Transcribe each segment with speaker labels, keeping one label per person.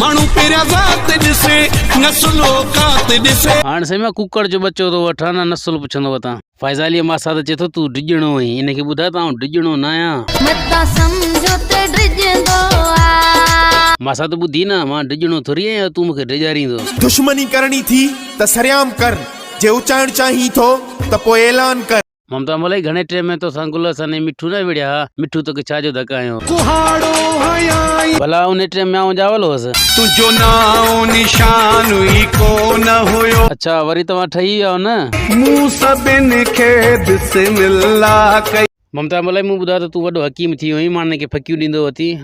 Speaker 1: ماڻهو پهريان
Speaker 2: ذات ڏسي نسل اوقات ڏسي. هاڻ سائين مان ڪوڪڙ جو
Speaker 1: ٻچو ٿو وٺان نه نسل پڇندو وتان. فائزه عليء ماسا ته چئي ٿو تون ڊڄڻو آهين ان کي ٻڌاء ته آئون ڊڄڻو نه آهيان. متان سمجهو
Speaker 3: ته ڊڄندو آ. ماسا ته ٻڌي
Speaker 1: نه مان ڊڄڻو ٿوري آهيان جو تون مون کي ڊيڄاريندو. دشمني ڪرڻي
Speaker 4: ٿي ته سرعام ڪر جي اچائڻ چاهين ٿو ته پوء اعلان ڪر. ممتا ملائي گهڻي ٽيم
Speaker 1: ۾ توسان گل سني مٺو نه وڙهيا ها مٺو توکي ڇا جو ڌڪ هنيو ڪهاڙو
Speaker 2: هنيائين. ڀلا انهي ٽيم ۾
Speaker 1: آئون ڄاول هوس. تنهنجو نانء
Speaker 2: نشان ئي ڪو نه هيو. اڇا وري توهان ٺهي
Speaker 1: ويا آهيو نه. مون سڀن
Speaker 2: کي بسم الله ڪئي. ممتا ملائي مون ٻڌو
Speaker 1: آهي ته تون وڏو حڪيم ٿي وئين ماڻهن کي ڦڪيون ڏيندو اٿين.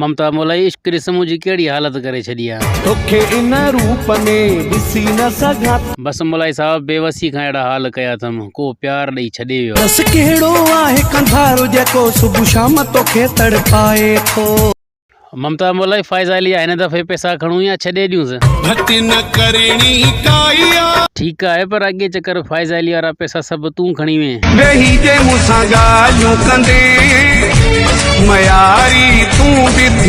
Speaker 1: ممتا مولائي عشق ڏس منهنجي ڪهڙي حالت ڪري ڇڏي آ. توکي ان
Speaker 2: روپ ۾ ڏسي نه سگهان ٿو. بس مولائي صاحب
Speaker 1: بيوسي کان اهڙا حال ڪيا اٿم ڪو پيار ڏئي ڇڏي ويو آ. ڏس ڪهڙو
Speaker 2: آهي قنڌار جيڪو صبح شام توکي تڙپائي ٿو. ممتا
Speaker 1: مولائي فائزه علي آ هن دفعي پئسا کڻون يا ڇڏي ڏيونس. گهٽ نه
Speaker 2: ڪرڻي ڪائي آ. ٺيڪ آهي پر اڳي
Speaker 1: چڪر فائزه علي وارا پئسا پئسا سڀ تون کڻي وئين. ويهي جي مون
Speaker 2: سان ڳالهيون ڪندين مياري تون به ٿيندين.